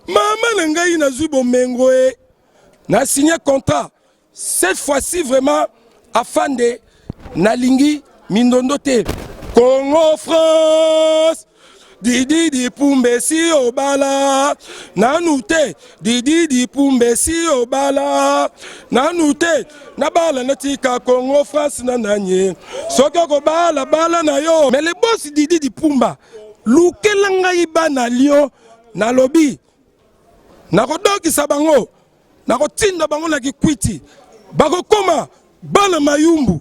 mama na ngai nazwi bomengo e na signe contrat cette fois-ci vraiment afande nalingi mindondo te congo france dididi pumbesi obala nanu te Didi Dipumbe si obala nanu te nabala natika Congo France na nanye soki okobala bala na yo mais le boss Didi Dipumba lukela ngai bana Lyon nalobi nakodokisa bango nakotinda bango na kikwiti bakokoma bana mayumbu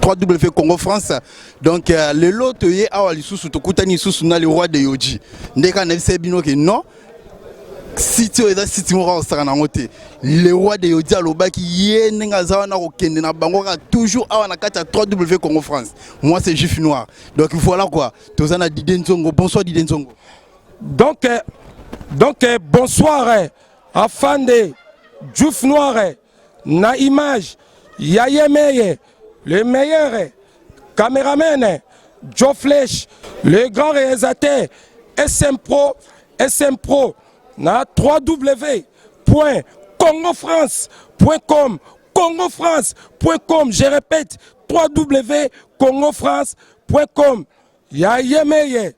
3W Congo France donc euh, lelo toye awa lisusu tokutani lisusu na le roi de Yoji ndeka kaka nayebisaki bino ke non site oyo eza site moko akosaka nango te le roi de yodi alobaki ye ndenge aza wana kokende na bango kaka toujours awa na kati ya 3w congo france moi c'est juif noir donc voilà quoi toza na dide nzongo bonsoir dide nzongo donc euh, donc euh, bonsoir euh, afande juif noir na image ya yemeye le meilleur cameraman Joe Flesh le grand réalisateur SM Pro SM Pro na 3W point Congo France point com Congo France point com je répète 3W Congo France point com ya yemeye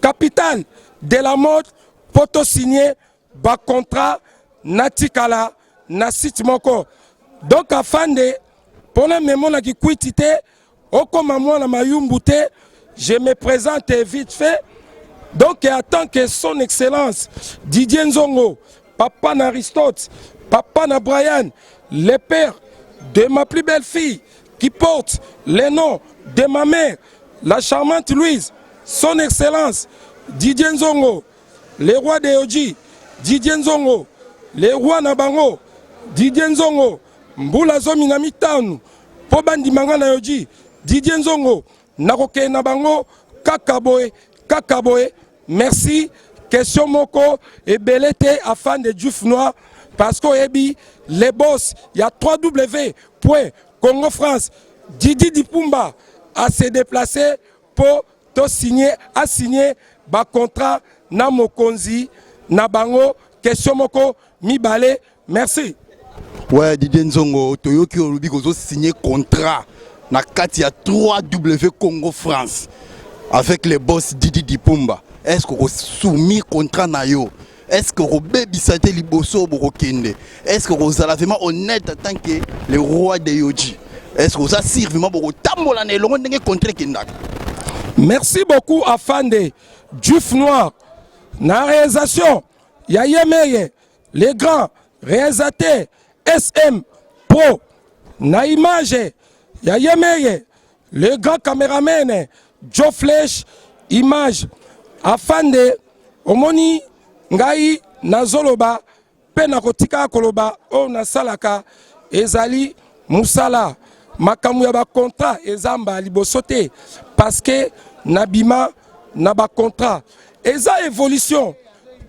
Capitale de la mode mpo to signe ba contrat natikala na site moko donc afande mpo na memo na kikwiti te okoma mwana mayumbu te je me presente vite fait donc en tant que son excellence Didier Nzongo papa na Aristote, papa na Brian, le père de ma plus belle fille qui porte le nom de ma mère, la charmante Louise, son excellence Didier Nzongo, le roi de Oji, Didier Nzongo, le roi na bango, Didier Nzongo, mbula zomi na mitano, po bandima nga na Oji, Didier Nzongo, Nakokende na bango kaka boye kaka boye. Merci. Question moko ebele te afin de Diouf Noir parce que oyebi les boss ya 3W point Congo France Didi Dipumba a se déplacer pour to signer a signer ba contrat na mokonzi na bango question moko mibale merci ouais Didier Nzongo toyoki olobi kozo signer contrat na kati ya 3W Congo France avec le boss Didi Dipumba est-ce que ko soumis contrat na yo est-ce que ko bebisa te liboso boko kende est-ce que ko zala vraiment honnête en tant que le roi de Yoji est-ce que oza sir vraiment boko tambola na elongo ndenge contrat kendaka merci beaucoup afande Juf Noir na réalisation ya yemeye le grand realisateur sm pro na image ya yemeye le grand cameraman joe flesh image afande omoni ngai nazoloba mpe nakotika koloba oyo nasalaka ezali mosala makambo ya bacontra ezamba liboso te parce que nabima na bacontra Eza evolution.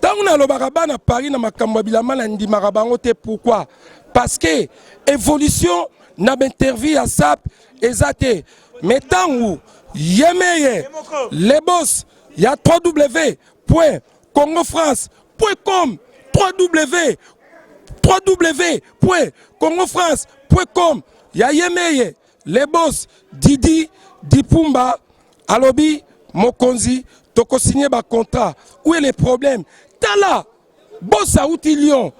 Tango nalobaka bana Paris na makambo ya bilamba na ndimaka bango te pourquoi? Parce que evolution na ba interview ya SAP eza te. Mais tango yemeye le boss ya 3W point Congo France point com 3W 3W point Congo France point com ya yemeye Le boss Didi Dipumba alobi mokonzi toko signer ba contrat où est le problème tala boss auti Lyon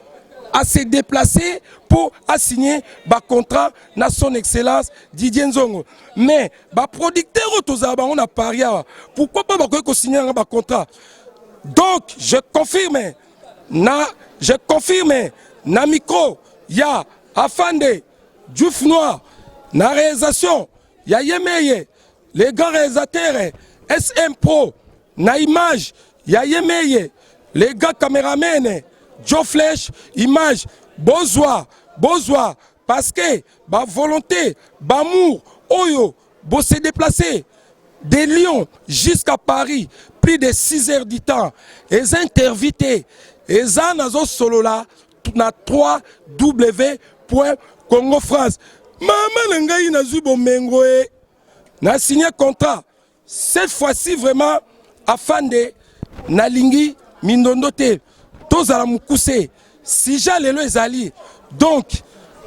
à se déplacer pour assigner ba contrat na son excellence Didier Nzongo mais ba producteurs oyo tozala bango na Paris awa pourquoi pas bakoki ko signer nanga ba contrat donc je confirme na je confirme na micro ya afande Diouf Noir na realisation ya yemeye le grand realisateur SM Pro na image ya yemeye le grand cameraman Joe Flesh image bozwa bozwa parce que ba volonté bamour oyo bo se déplacer de Lyon jusqu'à Paris plus de 6 heures du temps eza intervite eza nazo solola na 3 w point congo france mama na ngai nazwi bomengo e na signe contrat cette fois-ci vraiment afande nalingi mindondo te tozala mokuse sija lelo ezali donc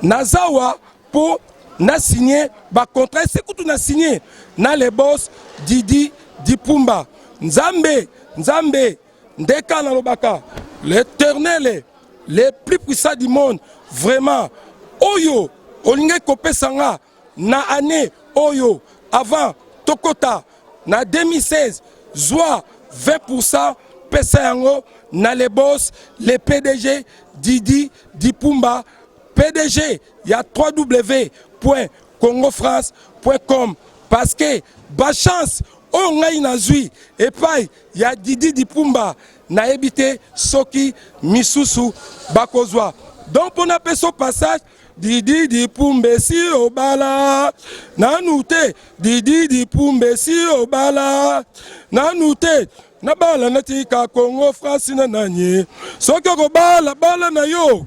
nazawa mpo na signe bacontrat ese kutu na signe na lebos didi dipumba nzambe nzambe ndeka nalobaka l'éternel le plus puissant du monde vraiment oyo olingaki kopesa nga na année oyo avant tokota na 2016 zwa 20% pesa yango na le boss le pdg didi dipumba pdg ya 3w point congo france point com parce que bachance oyo ngai nazwi epai Ya Didi Dipumba nayebi te soki misusu bakozwa donc mpo napesa passage Didi Dipumba esi obala nanu te Didi Dipumba esi obala nanu te nabala natika Congo France na nani soki okobala bala na yo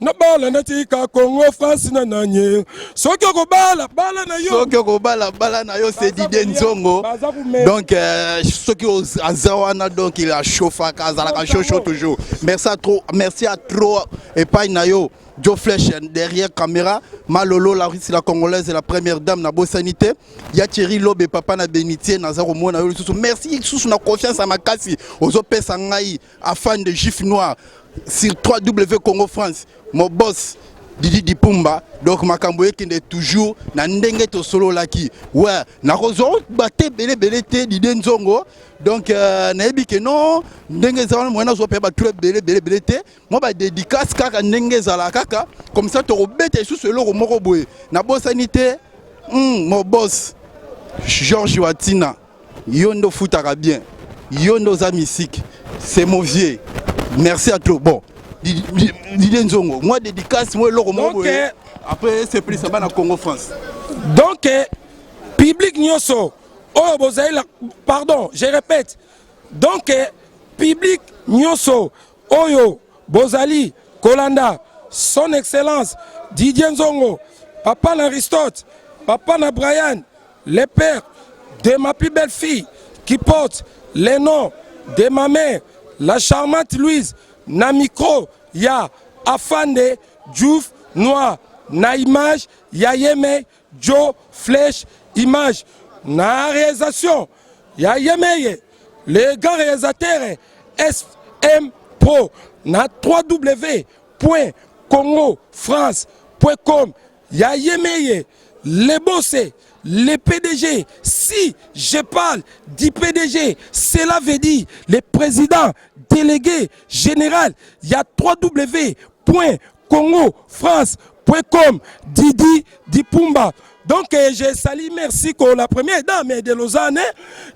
nabala natika congo france na nanye soki okobala bala na yo soki okobala bala na yo sedide nzongo donc euh, soki aza wana donc il achauffaka azalaka shosho toujours merci à trop merci à trop epai na yo Joe Flesh derrière caméra, Malolo, la Russie, la Congolaise et la première dame na Bossanité, Yachiri Lobe, papa na Benitier, Nazaro Mona, merci sous na confiance à Makasi, aux OP Sangai, afan de juif noir sur 3w congo france mon boss didi dipumba donc makambo ekende toujours na ndenge tosololaki we nakozwa bate ebele ebele te dide nzongo donc euh, nayebi ke non ndenge eza wana moyen nazwa mpe bato ebele ebele ebele te mwa badedicace kaka ndenge ezala kaka comme ça tokobeta lisusu eloko moko boye nabosani te mm, mobos george watina Yo nde ofutaka bien. Yo nde oza mystique. C'est mon vieux. Merci à toi. Bon. Didier Nzongo, moi dédicace, moi eloko moko boye. Euh, Après c'est plus ça bana Congo France. Donc euh, public nyoso oyo bozali pardon, je répète. Donc euh, public nyoso Oyo bozali kolanda son excellence Didier Nzongo papa na Aristote papa na Brian le père de ma plus belle fille qui porte le nom de ma mère la charmante Louise na micro ya Afande Diouf Noir na image ya Yemei Djo Flesh Image na realisation ya Yemeye le grand realisateur SM Pro na 3W point Congo France point com ya Yemeye le bosse le PDG si je parle du PDG cela veut dire le président délégué général ya 3W point Congo France point com Didi Dipumba donc euh, je sali merci ko la première dame de Lausanne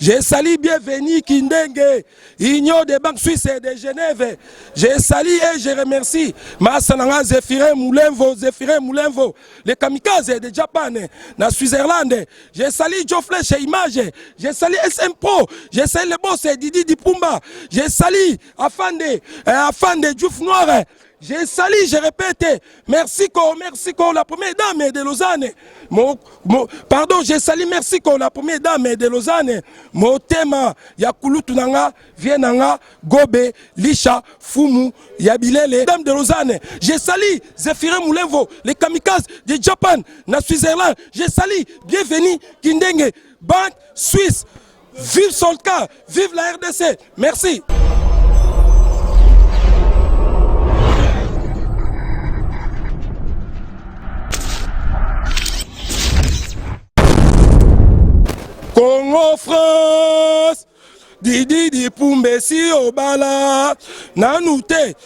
je sali bienvenue Kindenge Union des banques suisses de Genève je sali et je remercie Massa nanga Zephyrin Moulenvo Zephyrin Moulenvo les kamikazes de Japan na Switzerland je sali Geoff Flesh Image je sali SM Pro je sali le boss Didi Dipumba je sali Afande euh, Afande Diouf Noir Je sali, je répète, merci ko, merci ko, la première dame de Lausanne. Mo, mo, pardon, je sali, merci ko, la première dame de Lausanne. Motema ya kulutu nanga, vie nanga, gobe, lisha, fumu, ya bilele, dame de Lausanne. Je sali, Zephyrin Moulevo, les kamikazes de Japan, na Switzerland. Je sali, bienvenue, Kindenge, banque suisse. Vive Solka, vive la RDC. Merci. Congo France Didi Dipumbe si obala nanu te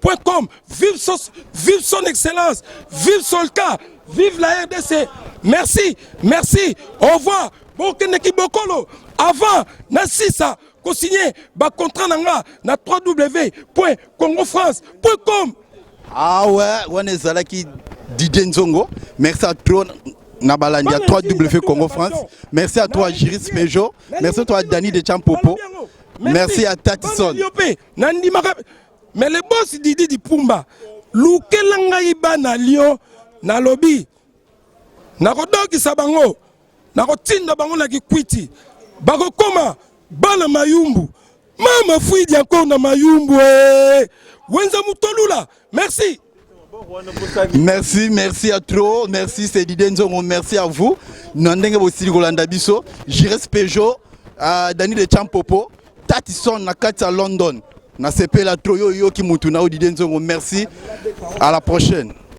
Point com, vive son, vive son excellence, vive solka, vive la RDC. Merci, merci, au revoir. Bokende kibokolo avant na sisa ko signer ba contrat na nga na www.congofrance.com. Ah ouais, wana ezalaki Didier Nzongo. Merci à toi na balandi ya 3W Congo France. Merci à toi Jiris Pejo. Merci à toi Dani de Champopo. Merci à Tatison. Mais le boss Didi Dipumba, lukela ngai bana Lyon, nalobi nakodokisa bango, nakotinda bango na Kikwiti, bakokoma bana Mayumbu. Mama Fwidi encore na Mayumbu, eh, Wenza Mutolula, merci. Merci, merci à trop. Merci, c'est Didier Nzongo. Merci à vous. Nandenge Bossili Golanda Bisso, Jires Peugeot, euh, Dani de Champopo, Tatison Nakati à London. Nasepela trop yo yo ki mutu na Didier Nzongo. Merci. À la prochaine.